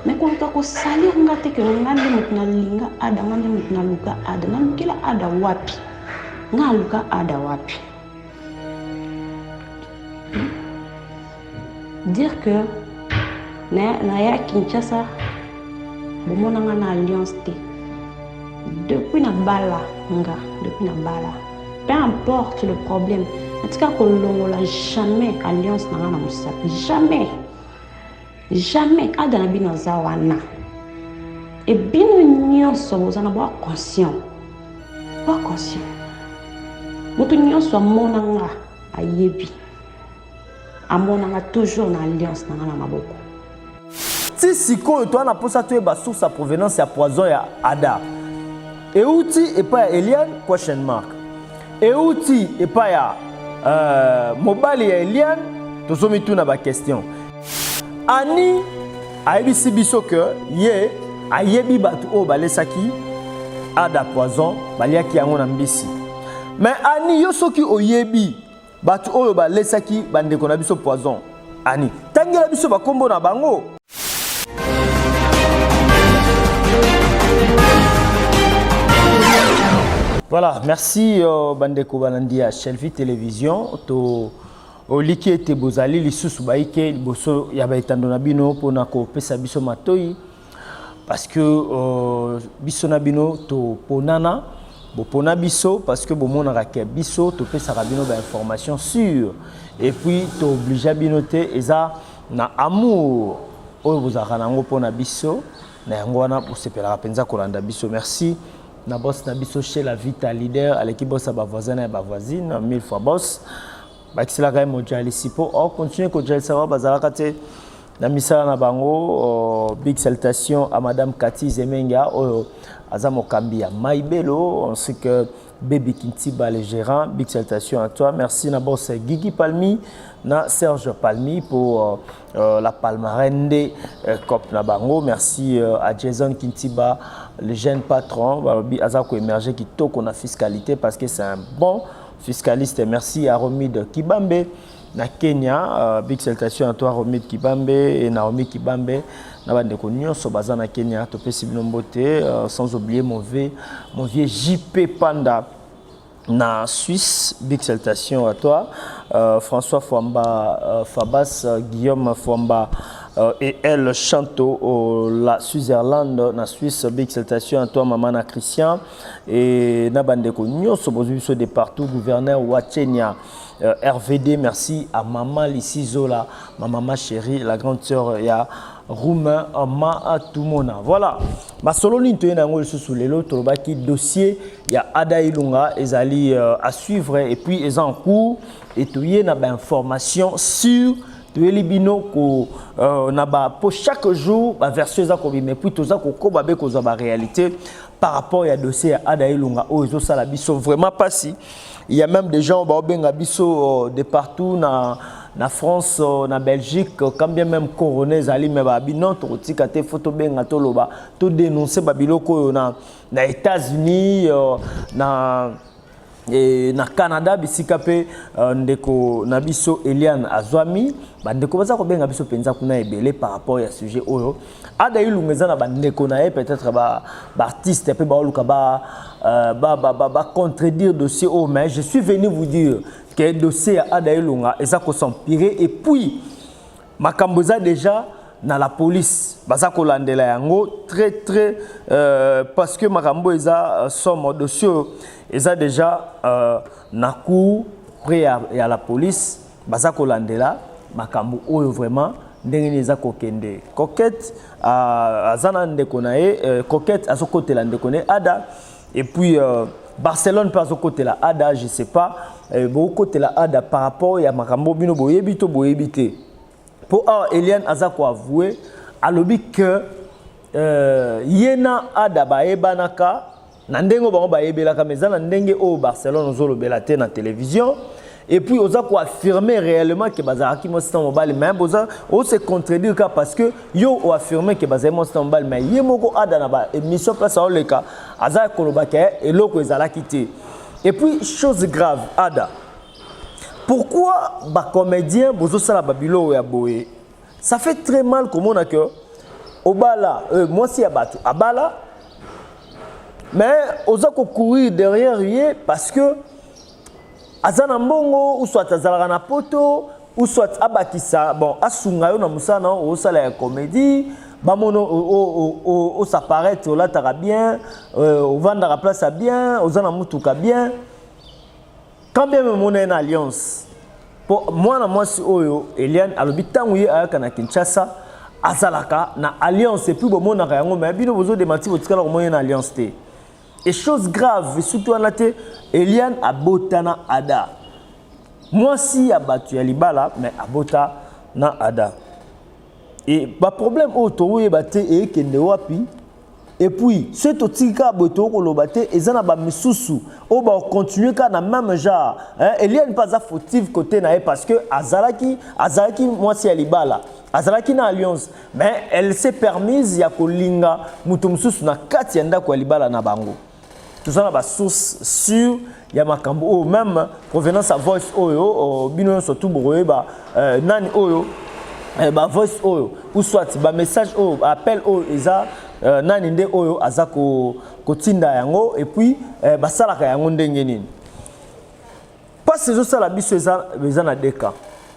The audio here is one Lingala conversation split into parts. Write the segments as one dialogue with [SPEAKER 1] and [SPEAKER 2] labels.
[SPEAKER 1] mais koluka kosalir nga te ke nga nde moto nalinga ada nga nde moto naluka ada nalukela ada wapi nga aluka ada wapi dire que naya kinshasa bomona nga na alliance te depuis nabala nga depuis nabala peu importe le problème natika kolongola jamais alliance na nga na mosapi jamais jamais ada na bino aza wana e bino nyonso boza na boa conscient boa conscient moto nyonso amona nga ayebi amona nga toujours na alliance na nga na maboko ti
[SPEAKER 2] sikoyo toa na mposa toyeba source ya provenance ya poison ya ada euti epai ya eliane question mark euti epai ya uh, mobali ya eliane tozomituna baquestion ani ayebisi biso ke ye ayebi bato oyo balesaki ada poison baliaki yango na mbisi me ani yo soki oyebi Bato oyo balesaki bandeko na biso poison ani tangela biso bakombo na bango voilà merci euh, bandeko balandi ya shelvi télévision to oliki ete bozali lisusu baike liboso ya baetando na bino mpona kopesa biso matoi parce que euh, biso na bino toponana bopona biso parce que bomonaka ke biso topesaka bino bainformation sur et puis toobligea bino te eza na amour oyo bozalaka na yango mpo na biso na yango wana bosepelaka mpenza kolanda biso merci na boss na biso chez la vita leader aleki boss ya bavoisin na ya bavoisine mille fois boss bakiselaka ye mojalisi mpo ocontinue kojalisaka bazalaka te na misala na bango. Uh, big salutation à madame Cathy Zemenga oyo oh, aza mokambi ya Maibelo ainsi que Baby Kintiba le gérant. Big salutation à toi. Merci na boss Gigi Palmi na Serge Palmi pour euh, euh, la palmarène des euh, COP na bango. Merci euh, à Jason Kintiba, le jeune patron. Balobi aza ko émerger kitoko na fiscalité parce que c'est un bon fiscaliste. Merci à Romide Kibambe. na Kenya uh, big salutation à toi Romy Kibambe et Naomi Kibambe na bandeko nyonso baza na Kenya topesi bino mbote uh, sans oublier mon vieux mon vieux JP Panda na Suisse big salutation à toi uh, François Fwamba uh, Fabas uh, Guillaume Fwamba euh, et elle Chanto au la Switzerland na Suisse big salutation à toi maman na Christian et na bandeko nyoso bozui biso de partout gouverneur wa Kenya Euh, RVD, merci à Maman Lissi Zola, ma maman chérie, la grande sœur ya Roumain euh, Ma Tumona. Voilà. Ma solo ni toye nango lisusu lelo tolobaki dossier ya Ada Ilunga ezali euh, à suivre et puis est en cours et toye na ba information sur toyeli bino ko euh, na ba po chaque jour ba version eza kobima puis toza kokoba be kozwa ba réalité par rapport ya dossier ya Ada Ilunga oyo ezosala biso vraiment pasi Il y a même des gens bao benga biso euh, de partout na na France euh, na Belgique euh, quand bien même corona ezali mais ba binon tokotika te faut tobenga toloba to dénoncer ba biloko oyo na na États-Unis euh, na E, na canada bisika mpe uh, ndeko na biso eliane azwami bandeko baza kobenga biso mpenza kuna ebele par rapport ya sujet oyo ada ilunga eza na bandeko na ye peut-être baartiste mpe baoluka bacontredire euh, dossier oyo oh, mais je suis venu vous dire que dossier ya ada ilunga eza kosempirer et puis makambo eza déjà na la police baza kolandela yango très très euh, parce que makambo eza euh, somo dossier oyo eza déjà euh, na cour près ya, ya la police baza kolandela makambo oyo vraiment ndenge nini eza kokende coquette ah, aza na ndeko na ye euh, coquette azokotela ndeko na ye ada et puis euh, barcelone mpe azokotela ada je sais pas euh, bokotela ada par rapport ya makambo bino boyebi to boyebi te mpo awa eliane aza koavoue alobi que euh, ye na ada bayebanaka na ndenge oyo bango bayebelaka mais eza na ndenge oyo barcelone ozolobela te na télévision et puis oza koaffirme réellement ke bazalaki mwasi na mobali mais boza ose contredire ka parce que yo oaffirme ke bazali mwasi na mobali mais ye moko ada na baémission place aoleka aza koloba ke eloko ezalaki te et puis chose grave ada pourquoi bacomédien bozosala babiloko ya boye Ça fait très mal komona que obala euh, mwasi ya bato abala mais oza kocourir derrière ye parce que aza na mbongo ou soit azalaka na poto ou soit abakisa bon asunga yo na mosala na yo osala ya comédie bamono osaparaître olataka bien euh, ovandaka place ya bien oza na motuka bien quand bien même on est na alliance po mwana mwasi oyo Eliane alobi ntango ye ayaka na Kinshasa azalaka na alliance epuis bomonaka yango me bino bozo demati botikala komona ye na alliance te e chose grave esuki wana te Eliane abota na Ada mwasi ya bato ya libala me abota na Ada e baproblème oyo tokoyeba te eyekende wapi Et puis, ce to tika boye to koloba te eza na ba misusu o ba continuer ka na même genre. Hein, Eliane pas fautive côté na parce que azalaki azalaki mwasi ya libala. Azalaki na alliance, mais elle s'est permise ya kolinga mutu mususu na kati ya ndako ya libala na bango. toza na ba source sur ya makambo oyo meme provenance ya voice oyo oh, bino nyonso tu bokoyeba euh, nani oyo euh, ba voice oyo ou soit ba message oyo ba appel oyo eza euh, nani nde oyo aza kotinda ko yango et puis euh, basalaka yango ndenge nini mpasi ezosala biso eza, eza na deka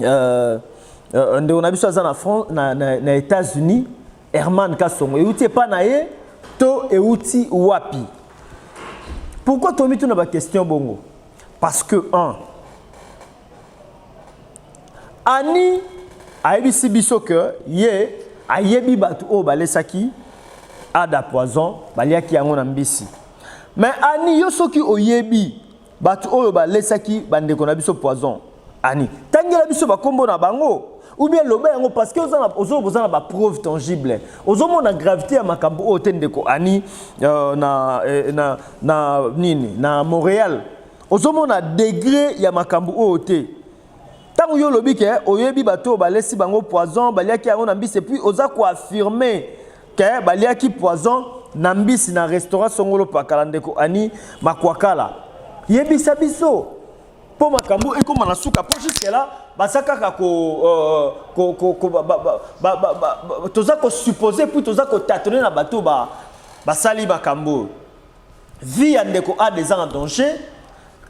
[SPEAKER 2] euh, euh, ndeko na biso aza na, France, na, na, na États-Unis Herman Kasongo euti epa na ye to euti wapi pourquoi tomi tuna ba question bongo parce que un Annie ayebisi biso que ye ayebi bato oyo balesaki ada poison baliaki yango na mbisi mais ani yo soki oyebi Bato oyo balesaki bandeko na biso poison ani tangela biso bakombo na bango ou bien loba yango parce que ozo boza na ba preuve tangible ozo mona gravité ya makambo oyo te ndeko ani euh, na, eh, na na nini na Montréal ozo mona degré ya makambo oyo te Tango yo olobi ke oyebi bato oyo balesi bango poison, baliaki yango na mbisi epuis oza ko affirmer ke baliaki poison na mbisi na restaurant Songolo Pakala ndeko Annie Makwakala. Yebisa biso mpo makambo ekoma na suka mpo jusque là baza kaka ko, euh, ko, ko, ko ba, ba, ba, ba, ba, ba, toza kosuppose puis toza kotatone na bato basali ba makambo oyo vie ya ndeko Ada eza na danger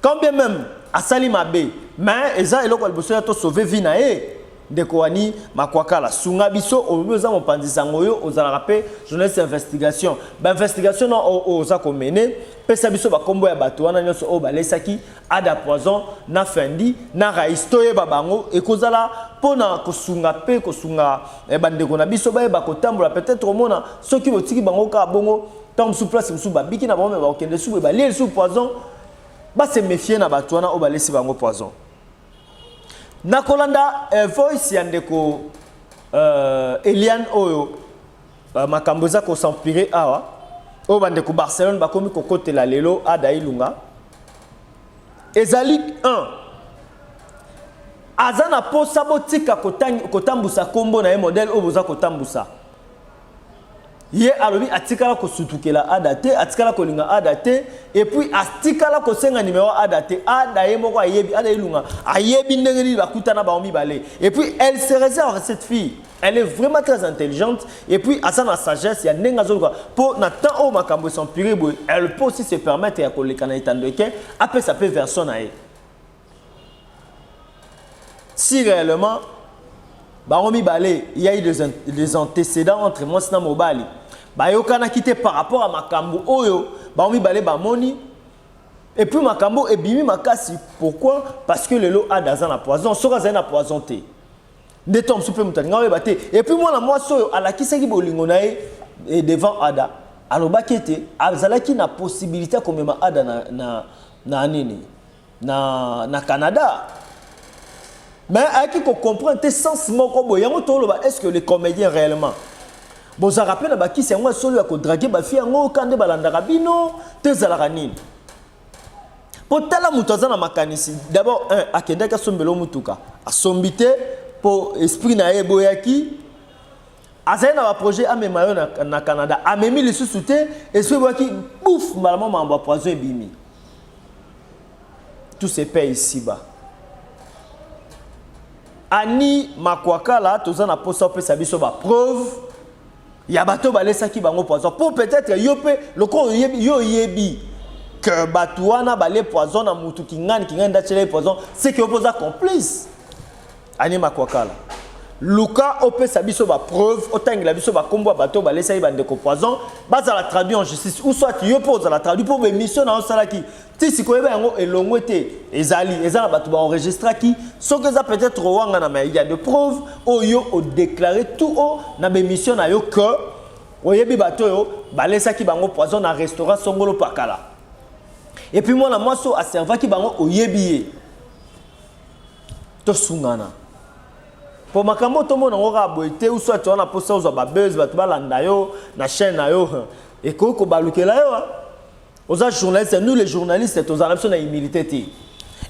[SPEAKER 2] quand bien même asali mabe mais eza eloko ya liboso ya to sauver vie na ye ndeko wani makwakala sunga biso olobi oza mopanzi sango yo ozalaka mpe journaliste ya investigation bainvestigation na oyo oza komene pesa biso bakombo ya bato wana nyonso oyo balesaki ada poison na fendi na rais toyeba bango ekozala mpo na kosunga mpe kosunga eh, bandeko na biso bayeba kotambola peut-être omona soki botiki bango kaka bongo ntango mosusu place mosusu babiki na bango me bakokende lisusu boye balie lisusu poison base méfie na bato wana oyo balesi bango poison na kolanda eh, voice ya ndeko eh, eliane oyo eh, makambo eza kosampire awa oyo bandeko barcelone bakomi kokotela lelo ada ilunga ezali 1 aza na mposa botika kotambusa nkombo na ye modele oyo boza kotambusa Ye alobi atikala kosutukela Ada te, atikala kolinga Ada te, et puis atikala kosenga numero ya Ada te. Ada ye moko ayebi, Ada Ilunga ayebi ndenge nini bakutana bango mibale. Et puis elle se réserve cette fille. Elle est vraiment très intelligente et puis aza na sagesse ya ndenge azoluka mpo na temps oyo makambo esampire boye elle peut aussi se permettre ya koleka na etando eke apesa mpe version na ye. si réellement bango mibale il y a eu des, des antécédents entre mwasi na mobali bayokanaki te par rapport ya makambo oyo bango mibale bamoni et puis makambo ebimi makasi pourquoi parce que lelo ada aza na poison soki azali na poison te nde to mosusu mpe moto alinga oyeba te et puis mwana mwasi oyo alakisaki bolingo na ye eh, devant ada alobaki ete azalaki na possibilité ya komema ada na, na, na nini na, na Canada mais ayaki ko comprendre te sens moko boye yango toloba est-ce que les comédiens réellement bozalaka mpe na bakisi yango ya solo ya kodrage bafi yango ka nde balandaka bino to ezalaka nini mpo tala moto aza na makanisi d'abord un akendaki asombela motuka asombi te mpo esprit na ye eboyaki azali na baprojet amema yo na, na canada amemi lisusu te esoki ebwaki bouf mbala mwa makambo ya poison ebimi tout se paye isiba ani makwakala toza na mposa opesa biso bapreuve ya bato balesaki bango poison mpo peut-être yo mpe lokola oyebi yo oyebi que bato wana balie poison na motu kingani kingani ndatyela ye poison seke yo mpe oza complice Anie Makwakala, luka opesa biso ba preuve, otangela biso ba kombo ya bato balesaki ba ndeko poison, bazala traduit en justice ou soit yo pe ozala traduit po ba emission na yo osalaki ti sikoyo oyeba yango elongwe te, ezali eza na bato ba enregistraki, soki eza peut-etre kowangana mais il ya de preuves oyo yo o declarer tout haut na ba emission na yo que oyebi bato oyo balesaki bango poison na restaurant Songolo Pakala et puis mwana mwasi oyo a servaki bango oyebi ye. tosungana po makambo tomona yango kaka boye te usu ati wana mposa ozwa babese bato balanda yo na chaîne na yo ekoki kobalukela yo hein. oza journaliste nous les journalistes tozala biso na humilité te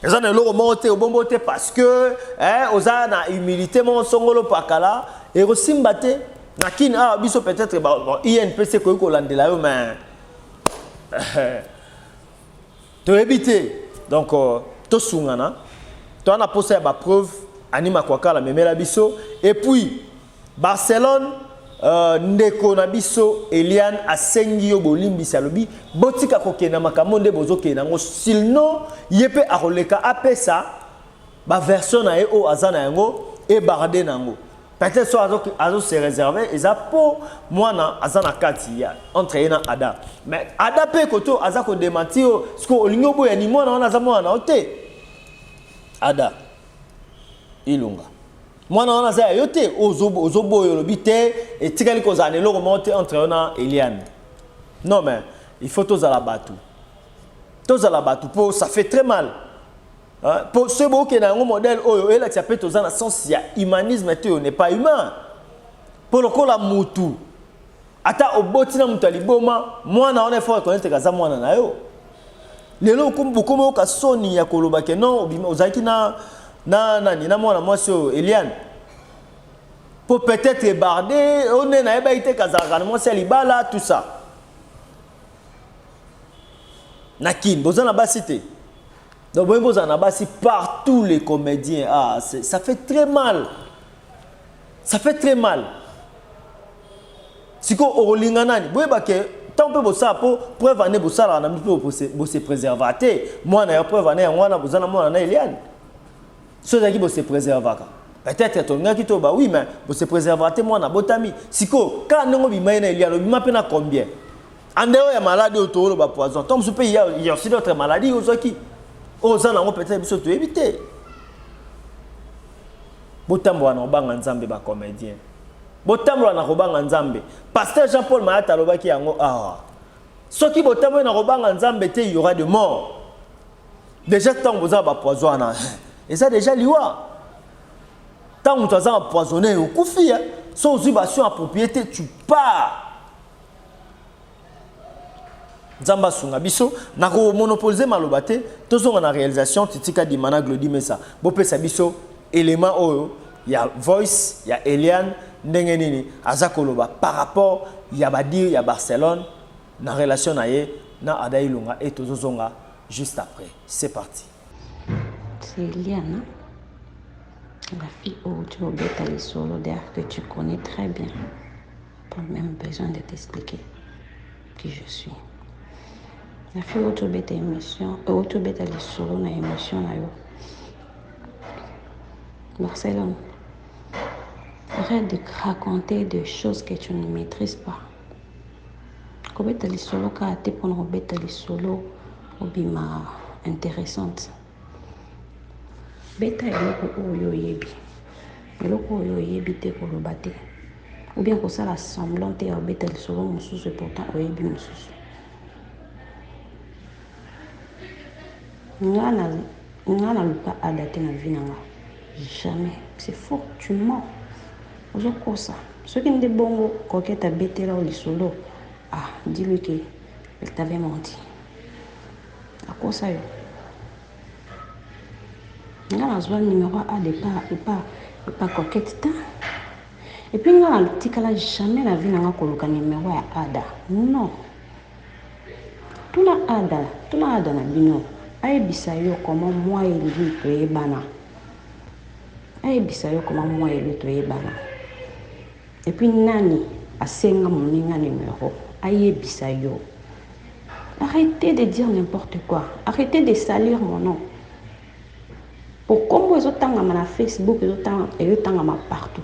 [SPEAKER 2] eza na eloko moko te obombo te parce que hein, oza na humilité moko songolo pakala ekosimba te na kin awa ah, biso peut-être inpc ekoki kolandela yo mais toyebi te donc euh, tosungana toa na posa ya ba preuve ani makwakala memela biso et puis barcelone euh, ndeko na biso eliane asengi yo bolimbisi alobi botika kokende na makambo nde bozokende yango silno ye mpe akoleka apesa baversion na ye oyo aza na yango ebarde na yango peut-être so azo azo se réserver eza po mwana aza na kati ya entre ye na ada mais ada mpe koto aza kodemati yo siko olingi oboya ni mwana wana aza mwana na yo te ada ilunga mwana wana aza ya yo te ozoboya olobi te etikali kozala na eloko moko te entre yo na eliane non mais il faut tozala bato tozala bato mpo ça fait très mal Po ce boke na yango modèle oyo elakisa pe toza na sens ya humanisme te on n'est pas humain. Po lokola mutu ata oboti na mutu aliboma mwana wana il faut reconnaître kaza mwana na yo. Lelo bokomi oka soni ya koloba ke non ozalaki na na nani na mwana mwasi oyo Eliane po peut-être ebardé on est na yeba ite kazaka na mwasi ya libala tout ça. na kin boza na basi te donc boyembi ozala na basi partout les comédiens ah, ça fait très mal ça fait très mal sikoyo okolinga nani boyeba ke ntango mpe bosala mpo preuve ane bosalaka na mpe bose preserva te mwana ya preuve ane yango wana boza na mwana na eliane soki ezalaki bo se preservaka peut-être tolingaki to ba oui mais bo se preservera te mwana botami siko kaka ndenge obima ye na elialo obima mpe na combien andeo ya maladi oyo tooloba poison to mosusu mpe ya aussi d'autres maladies ozwaki oyo oza nango peut-être biso toyebi te botambola na kobanga nzambe bacomédien botambola na kobanga nzambe pasteur jean paul mayata alobaki yango awa soki botamboli na kobanga nzambe te y aura de mort deja ntango boza na bapoison wana eza deja liwa ntango moto aza empoisonne okufi ya so ozwi bastion approprié te tu pars nzambe asunga biso na komonopolize maloba te tozonga na réalisation titika dimana glodi mesa bopesa biso élément oyo ya voice ya eliane ndenge nini aza koloba par rapport ya badire ya barcelone na relation na ye na ada ilunga et tozozonga juste après c'est parti
[SPEAKER 1] c'est eliana la fille oyo tu obeta lisolo derrière que tu connais très bien pas même besoin de t'expliquer qui je suis la fille oyo tu obeta émission oyo tu obeta lisolo na émission na yo barcelone arrête de raconter des choses que tu ne maîtrises pas Kobeta lisolo kaka te pona kobeta lisolo obima interessante. Beta eloko oyo oyebi. Eloko oyo oyebi te koloba te. Ou bien kosala semblant te ya kobeta lisolo mosusu et pourtant oyebi mosusu. nga na nga na luka ada te na vie na nga jamais c'est faux tu mens ozo kosa soki nde bongo coquette abetela o lisolo ah dis lui que elle t'avait menti akosa yo nga nazwa numero a départ epa epa coquette ta epuis nga natikala jamais na vie na nga koluka numero ya ada non Tuna Ada, tuna Ada na bino ayebisa yo comment moi et lui toyebana. Ayebisa yo comment moi et lui toyebana. Et puis nani asenga moninga numero ayebisa yo. Arrêtez de dire n'importe quoi. Arrêtez de salir mon nom. Pour comment ils ont tangama na Facebook, ils ont tangama partout.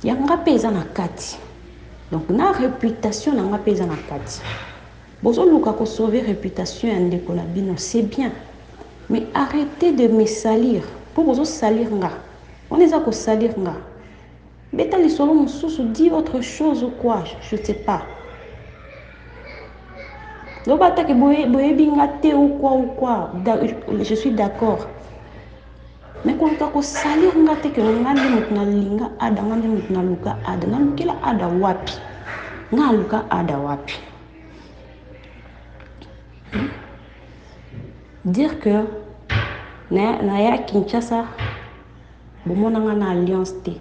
[SPEAKER 1] Ya nga pe eza na kati donc na reputation na nga pe eza na kati bozo luka ko sauver reputation ya ndeko na bino c'est bien mais arretez de me salir po bozo salir nga wana eza ko salir nga beta lisolo mosusu dit autre chose ou quoi je ne sais pas loba atake boyebi nga te ou quoi ou quoi je suis d'accord Mais koluka ko salir nga te que nga nde mutu na linga Ada, nga nde mutu na luka Ada. Na lukela Ada wapi? Nga na luka Ada wapi? Hmm? Dire que na, na ya Kinshasa bomona nga na alliance te.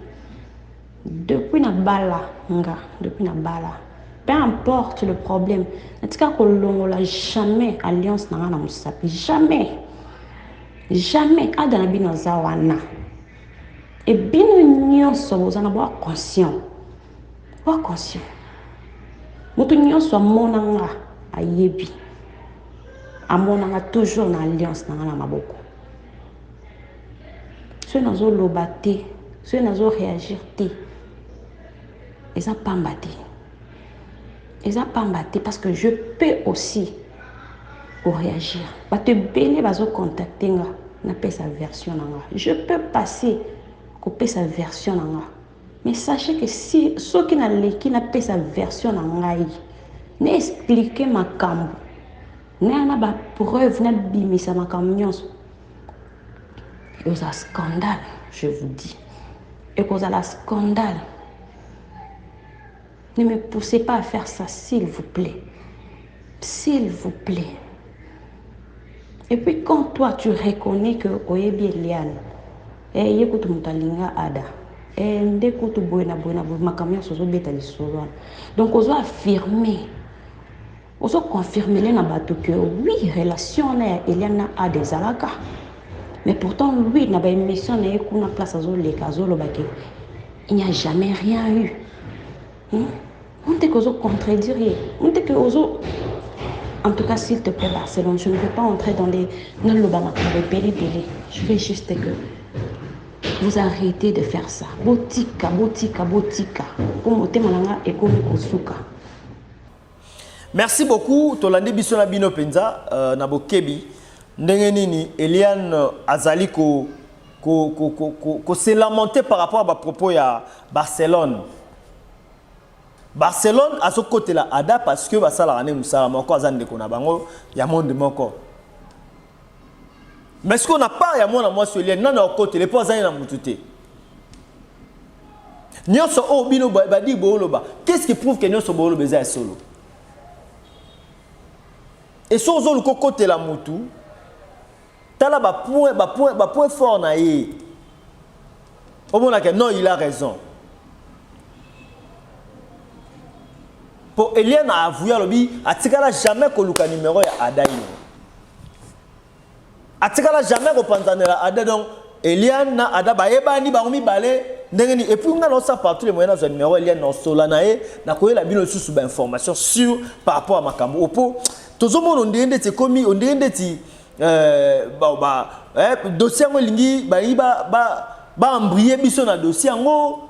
[SPEAKER 1] Depuis na bala nga depuis na bala peu importe le problème natika kolongola jamais alliance na nga na musapi jamais jamais ada na bino aza wana e bino nyonso boza na bwa conscient bwa conscient moto nyonso amona nga ayebi amonanga toujours na alliance na nga na maboko soki nazoloba te soki nazo réagir te eza pamba te eza pamba te parce que je peux aussi koréagir bato ebele bazocontacte nga napesa version na nga je peux passer kopesa version na nga mais sachez que si soki naleki napesa version na ngai na explike makambo naya na bapreuve nabimisa makambo nyonso ekozala scandale je vous dis ekozala scandale ne me poussez pas à faire ça s'il vous plaît s'il vous plaît et puis quand toi tu reconnais que oyebi eliane eh, ye kutu moto alinga ada eh, nde kutu boye na boye na boye makambo nyonso ozobeta lisolo wana donc ozo affirme Ozo confirmele na batu que oui relation wana ya Eliane na Ada ezalaka mais pourtant lui na ba emission na ye kuna place azo leka azo loba que il n'y a jamais rien eu hmm? on te que ozo contredire ye on te que ozo en tout cas s'il te plaît Barcelone je ne veux pas entrer dans les na loba makambo ebele ebele je veux juste que vous arrêtez de faire ça botika botika botika mpo motema na nga ekomi kosuka
[SPEAKER 2] Merci beaucoup tolandi biso na bino penza euh, na bokebi ndenge nini Eliane azali ko ko ko ko, ko, ko se lamenter par rapport à ba propos ya Barcelone Barcelone azokotela Ada parce que basalaka nde mosala moko aza ndeko na bango ya monde moko mais sikoyo na part ya mwana mwasi olie nani akotele mpo azali na motu te Nionso oyo bino badi booloba, qu'est-ce qui prouve que nionso booloba eza ya solo? Et soki ozoluka okotela mutu, tala ba point, ba point, ba point fort na ye. Omonaka non, il a raison. Po Eliane a avoué alobi atikala jamais koluka numero ya Adaïno. atikala jamais kopanzanela ada donc eliane na ada bayebani bango mibale ndenge nini epuis ngai naosa partout le moyen nazwa numero eliane naosola na ye nakoyela bino lisusu bainformation sur par rapport ya makambo oyo mpo tozomona ondenge ndeti ekomi ondenge ndeti euh, eh, dossier yango elingi balingi baembrie biso na dossier yango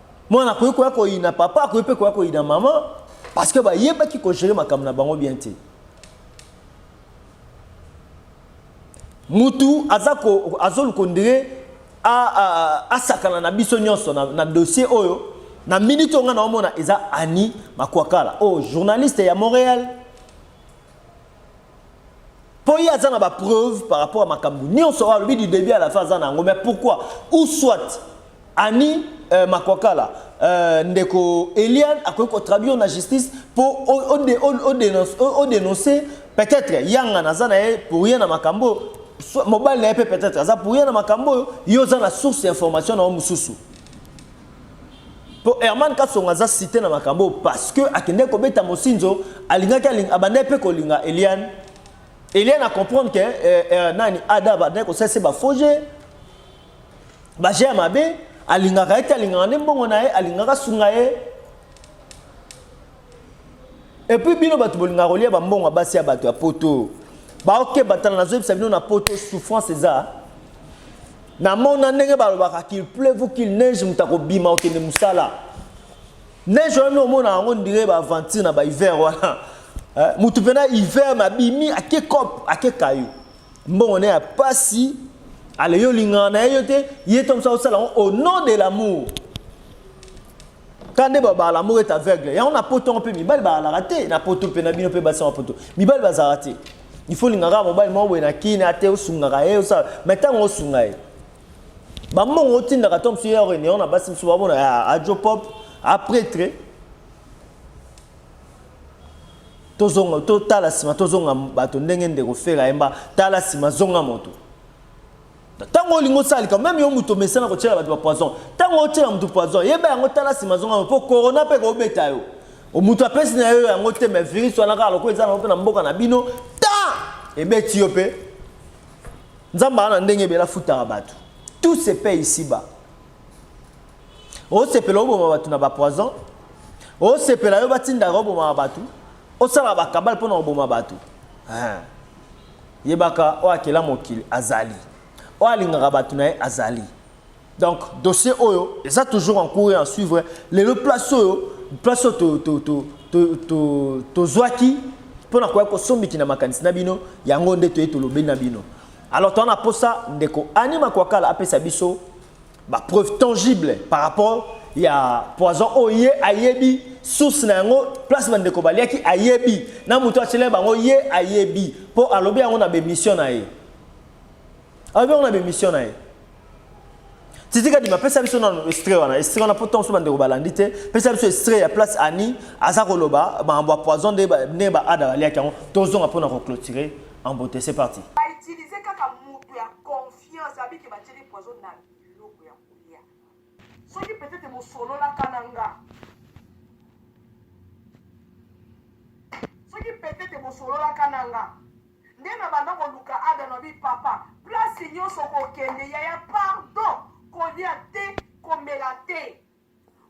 [SPEAKER 2] mwana akoki koya koyina papa akoki mpe koya koyina mama parce que bayebaki kogere makambo na bango bien te mutu aza ko azolu kondire asakana na biso nyonso na, na dossier oyo na minute oyo ngai naomona eza ani makwakala oyo oh, journaliste ya montréal mpo ye aza na bapreuve par rapport ya makambo nyonso oyo alobi du début à la fin aza na yango mais pourquoi ou soit ani euh, makwakala euh, ndeko eliane akoki kotraduire na justice mpo odenonce peut-être yanga naza na ye pour ye na makambo mobali na ye mpe peut-être aza pour ye na makambo oyo yo oza na source ya information na yo mosusu mpo herman kasonga aza site na makambo parce que akendeki kobeta mosinzo alingaki abandaki mpe kolinga eliane eliane acomprendre ke eh, eh, nani ada abandaki kosalisa bafoge baje ya mabe alingaka ye te alingaka nde mbongo na ye alingaka asunga ye Et puis bino batu bolinga kolia ba mbongo basi ya batu ya poto. Ba oke batana nazo yebisa bino na poto souffrance eza. Na mona ndenge balobaka qu'il pleuve ou qu'il neige mutako bima okende musala. Neige wana omona yango ndire ba aventure na ba hiver wana. Eh, mutu pena hiver na bimi ake cop ake kayo. Mbongo ne ya pasi ale yo lingana na ye te ye to musala osala au nom de l'amour. kaka nde babala moko ete aveugle yango na poto yango mpe mibali balalaka te na poto mpe na bino mpe basi yango poto mibali bazalaka te ifo olingaka mobali moko boye na kini ate osungaka ye osala mai ntango osunga ye bambongo otindaka ntango mosusu ye ya réunion na basi mosusu babona ya ajo pop apretre tozonga totala nsima tozonga bato ndenge ndeko fela yemba tala nsima zonga moto ntango olingi osala likambo meme yo moto omesana kotyela bato ba poison ntango otyela moto poison yeba yango tala nsima azongama mpo corona mpe kobeta yo moto apesi na yo yango te me virus wana kaka lokola eza nango mpe na mboka na bino ta ebeti yo mpe nzambe aa na ndenge ebele afutaka bato tout se paye ici bas osepela oboma bato na bapoison osepela yo batindaka obomaka bato osalaka bakabale mpo na koboma bato ah. Yebaka oyo akela mokili azali. Oyo alingaka bato na ye azali. Donc dossier oyo eza toujours en cours et en suivre. Lelo place oyo place oyo to to to to to tozwaki mpo na koya kosombiki na makanisi na bino yango nde toye tolobeli na bino. Alors toza na posa ndeko Annie Makwakala apesa biso ba preuve tangible par rapport ya poison oyo ye ayebi source na yango place bandeko baliaki ayebi na moto atyela bango ye ayebi mpo alobi yango na bemission na ye alobi yango na bemission na ye titika dima pesa biso na estre wana estre wana mpo ntango bandeko balandi te pesa biso estre ya place ani aza koloba makambo ya poison ndenge baada baliaki yango tozonga mpo na koclotire en beauté c'est parti
[SPEAKER 3] Science abi ke batieli poison na biloko ya kolia. Soki peut-être bosololaka na nga. Soki peut-être bosololaka na nga. Nde na banda koluka ada na bi papa. Place nyonso kokende yaya pardon kolia te komela te.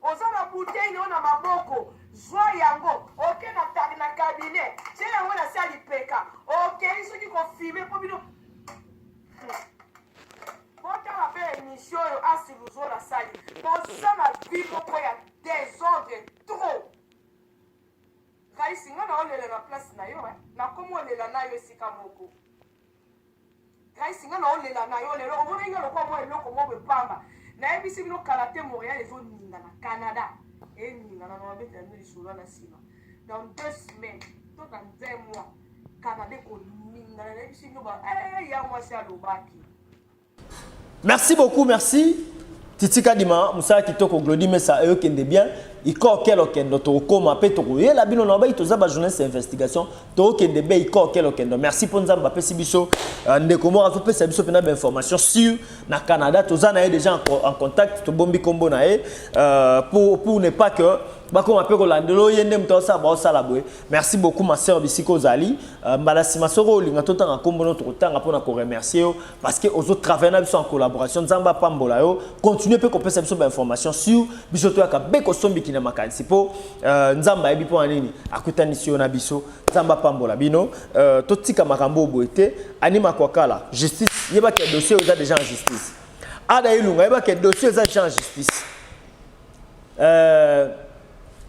[SPEAKER 3] Oza na bouteille yo na maboko, zwa yango oke na tag na cabinet, tie yango na sali peka, okei soki ko filmer po bino botala mpe emission oyo asi luzo na sali boza na vie moko ya desordre trop kaisi nga na olela na place na yo eh? nakomi olela na yo esika moko Grace nga na olela na yo lelo omona nga lokola mwa eloko moko epamba nayebisi bino kala te Montréal ezoninga na Canada eninga na nabetela bino lisolo na nsima dans deux semaines to dans un mois Canada ekoningana nayebisi bino ba eh, ya mwasi alobaki
[SPEAKER 2] Merci beaucoup, merci. Titi Kadima, Moussa Kitoko, Glody Messa, eux qui bien. Iko quel okendo to koma pe to ye la bino na ba ito za ba journaliste investigation to kende be iko quel okendo merci pour nzamba pe sibiso euh, ndeko mo azo pesa biso pena ba information sur na Canada to za na ye déjà en contact to bombi kombo na ye euh, pour pour ne pas que bakoma mpe kolandela oye nde moto aosala baosala boye merci beaucoup ma sœur bisika ozali euh, mbala nsima soko olinga totanga nkombo no tokotanga mpo na koremercie yo parce que ozo travailler na biso en collaboration nzambe apambola yo continuer mpe kopesa biso bainformation sur biso toyaka be kosombiki na makanisi mpo euh, nzambe ayebi mpo na nini akutanisi yo na biso nzambe apambola bino euh, totika makambo oyo boye te anima kwakala justice yebaki ya dossier oyo eza déjà en justice ada elunga yebaki ya dossier eza déjà en justice Euh,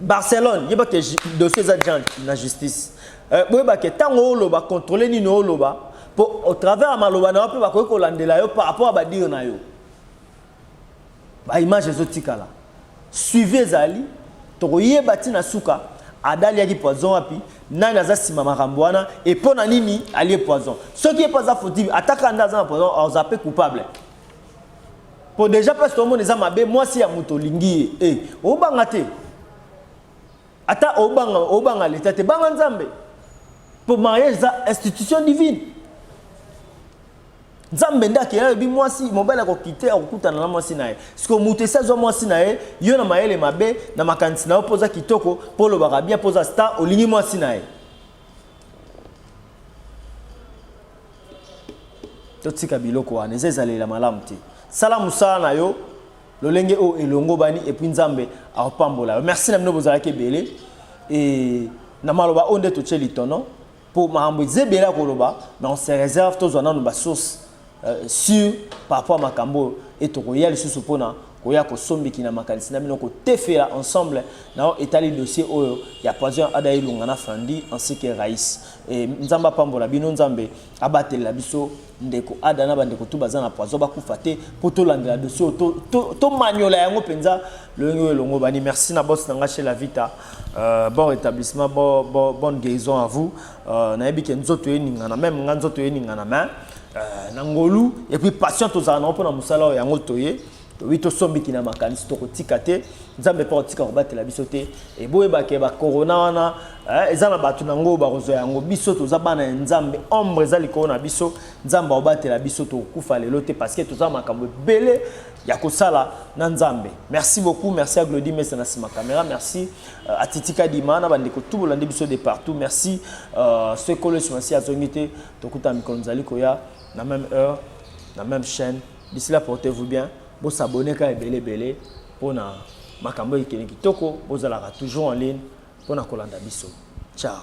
[SPEAKER 2] Barcelone, il y a que dossier za Jean na justice. Euh, boye ba que tango oloba contrôler nini oloba pour au travers maloba na pe ba ko kolandela yo par rapport à ba dire na yo. Ba image zo tikala. Suivez ezali to koyeba ti na suka adaliaki poison wapi nani aza nsima makambo wana e mpo na nini alie poison soki ye mpo aza fautive ataka nde aza na poison aza mpe coupable Po deja place to mona eza mabe mwasi ya moto olingi ye. Eh, obanga te. Ata obanga obanga leta te banga Nzambe. Po mariage eza institution divine. Nzambe nda ke yebi mwasi mobali akokite akokutana na mwasi na ye. Siko moto esi azwa mwasi na ye, yo na mayele mabe, na makanisi na yo poza kitoko, po olobaka bien poza star, olingi mwasi na ye. totika biloko wana eza ezaleli ya malamu te sala mosala na yo lolenge oyo elongobani epuis nzambe akopambola yo merci na bino bozalaki ebele e na maloba oyo nde totye litono mpo makambo eza ebele ya koloba mais on se réserve tozwa nano basource euh, sur par rapport ya makambo oyo e tokoya lisusu mpona koya kosombiki na makanisi na bino kotefela ensemble na oyo etali dossier oyo ya poison ya ada elonga na frandi ainsi que raïs E, nzambe apambola bino nzambe abatelela biso ndeko ada na bandeko tu baza na poison bakufa te mpo tolandela dosi oyo tomanyola to, to yango mpenza lolenge oyo elongobani merci na bos na ngai chez la vita euh, bon rétablissement bon, bon, bonne guérison à vous euh, nayebi ke nzoto eningana meme ngai nzoto eningana mais euh, na ngolu epuis patient tozala nango mpo na mosala oyo yango toye Oui, to sombi kina makanisi toko tika te nzambe mpe akotika kobatela biso te eboyebake bakorona wana eh, eza na bato na yango bakozwa yango biso toza bana ya nzambe ombre eza likolo na biso nzambe akobatela biso tokokufa lelo te parce que toza makambo ebele ya kosala na nzambe merci beaucoup merci ya glodi mesa na nsima kamera merci uh, atitika dima na bandeko tu bolandi biso de partout merci uh, euh, sekolo esimasi azongi te tokuta mikolo mizali koya na même heure na même chaîne D'ici là portez vous bien. Bo s'abonner ka ebele ebele pona makambo ekende kitoko bozalaka toujours en ligne pona kolanda biso. Ciao.